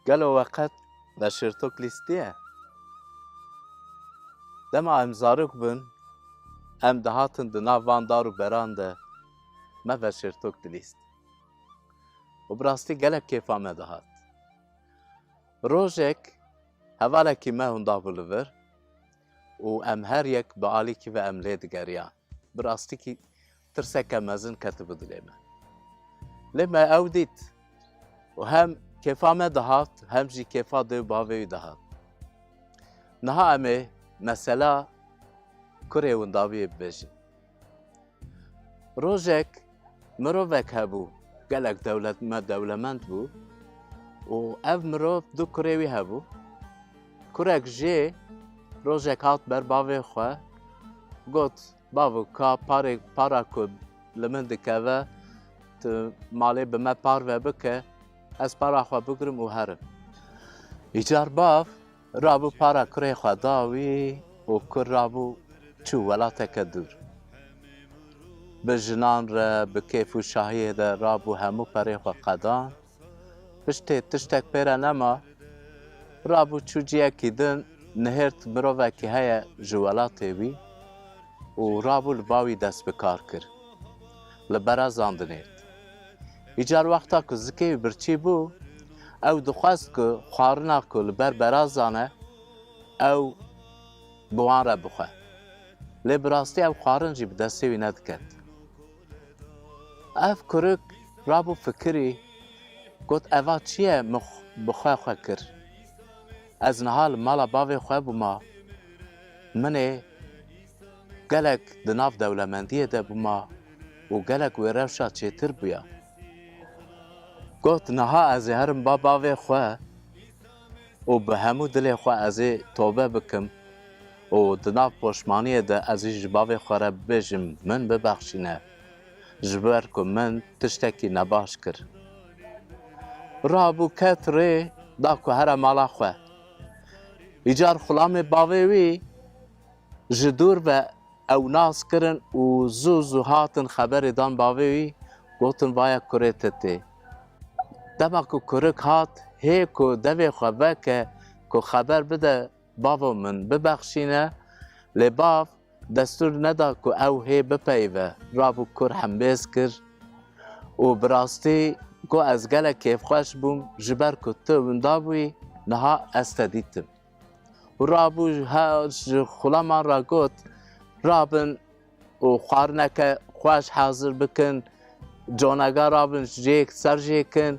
Gelo we qet neşirtok lîstiye? Dema em zarok bûn, em dihatin di nav van dar û beran de me veşirtok dilîst. Û bi rastî gelek kêfa me dihat. Rojek hevalekî me hûn dabû li vir û em her yek bi alîkî ve em lê digeriyan. Bi rastikî tirseke mezin ketibû dilê me. Lê me ew dît û hem kêfa me dihat hem jî kêfa dê û bavê wî dihat. Niha em ê mesela kurê windaviyê bibêjin. Rojek mirovek hebû gelek dewlet me dewlemend bû û ev mirov du kurê wî hebû. Kurek jê rojek hat ber bavê xwe got bavû ka parê para ku li min dikeve tu malê bi me parve bike ez para xwe bigrim û herim. Îcar bav Rabû para kurê xwe da wî û kur rabû çû welateke dûr. Bi jinan re bi kêf û şahiyê de rabû hemû perê xwe qedan. Piştê tiştek pê re nema, rabû çû ciyekî din, nihêrt mirovekî heye ji welatê wî û rabû li ba wî dest bi kar kir. Li berezan dinêrt. Îcar wexta ku zikê wî birçî bû, ew dixwest ku xwarina ku li ber berazan e ew bi wan re bixwe. Lê bi rastî ev xwarin jî bi destê wî nediket. Ev kurik rabû fikirî, got eva çi ye min bi xwe xwe kir. Ez niha li mala bavê xwe bûma. Min ê gelek di nav dewlemendiyê de bûma û gelek wê rewşa çêtir bûya. Got, Niha ez ê herim ba bavê xwe û bi hemû dilê xwe ez ê tobe bikim û di nav poşmaniyê de ez jî ji bavê xwe re bibêjim min bibexşîne ji ber ku min tiştekî nebaş kir. Rabû ket rê da ku here mala xwe. Îcar xulamê bavê wî Ji dûr ve ew nas kirin û zû zû hatin xeberê dan bavê wî, gotin vaye kurê te tê. Dema ku kurik hat, hê ku devê xwe veke ku xeber bide bavo min bibexşîne, lê bav destûr neda ku ew hê bipeyive, rabû kur hembêz kir û bi rastî got ez gelek kêfxweş bûm ji ber ku tu winda bûyî, niha ez te dîtim. û rabû ji xulaman re got rabin û xwarineke xweş hazir bikin conega rabin jêk ser jêkin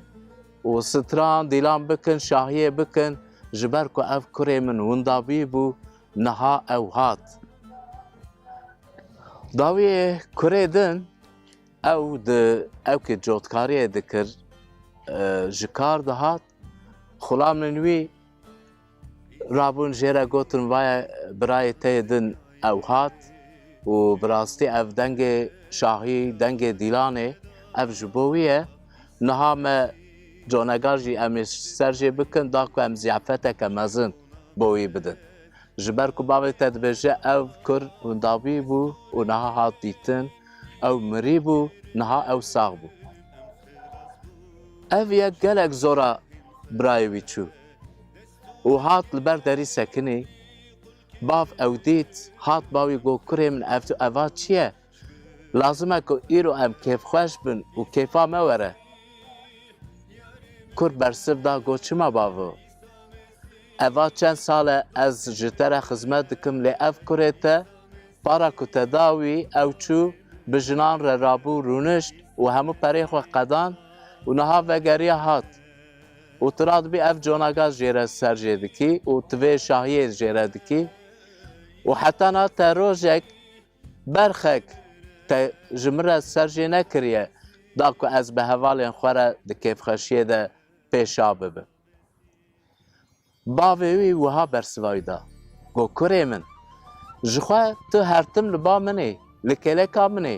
û stran dîlan bikin şahiyê bikin ji ber ku ev kurê min winda bî bû niha ew hat. Dawiyê kurê din ew di ew ki cotkariyê dikir ji kar dihat xulamên wî Rabûn jê re gotin vaye birayê te yê din ew hat û bi rastî ev dengê şahî, dengê Dîlan ê, ev ji bo wî ye. Niha me conegan jî em ê ser jê bikin da ku em ziyafeteke mezin bo wî bidin. Ji ber ku bavê te dibêje ew kur windavî bû û niha hat dîtin, ew mirî bû, niha ew sax bû. Ev yek gelek zora birayê wî çû û hat li ber derî sekinî. Bav ew dît, hat ba wî got, Kurê min ev tu eva çi ye? Lazim e ku îro em kêfxweş bin û kêfa me were. Kur bersiv da got, Çima bavo? Eva çend sal e ez ji te re xizmet dikim lê ev kurê te para ku te da wî ew çû bi jinan re rabû rûnişt û hemû perê xwe qedan û niha vegeriya hat û tu radibî ev conaga jê re ser jê dikî û tu vê şahiyê jê re dikî û heta na te rojek berxek te ji min re ser jê nekiriye da ku ez bi hevalên xwe re di kêfxweşiyê de pêşa bibim. Bavê wî wiha bersiva wî da, Got, Kurê min, ji xwe tu her tim li ba min î, li kêleka min î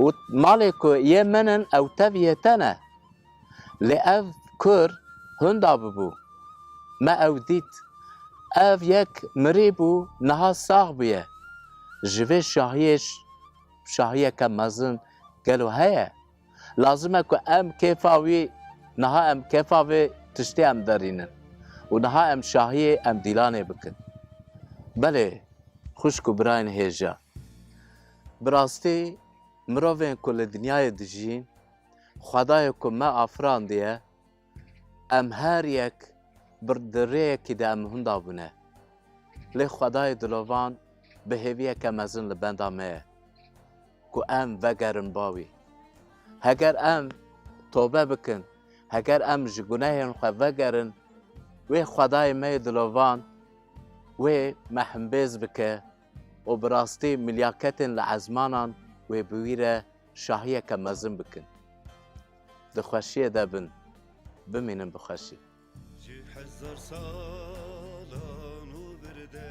û malê ku yê min in ew tev yê te ne. Lê ev kur hûnda bûbû. Me ew dît. Ev yek mirîbû niha sax bûye. Ji vê şahiyê şahiyeke mezin gelo heye? Lazim e ku em kêfa wî niha em kêfa vê tiştê em derînin û niha em şahiyê em dîlanê bikin. Belê xwişk û birayên hêja. Bi rastî mirovên ku li dinyayê dijîn, xwedayê ku me afirandiye, Em her yek di rêyekî de em hûn dabûne. Lê xwedayê dilovan bi hêviyeke mezin li benda me ye ku em vegerin ba wî. Heger em tobe bikin, heger em ji gunehên xwe vegerin, wê xwedayê me yê dilovan wê me himbêz bike û bi rastî milyaketên li ezmanan wê bi wî re şahiyeke mezin bikin. Di xweşiyê de bin, bimînin bi xweşî. Ji hezar salan û bir de.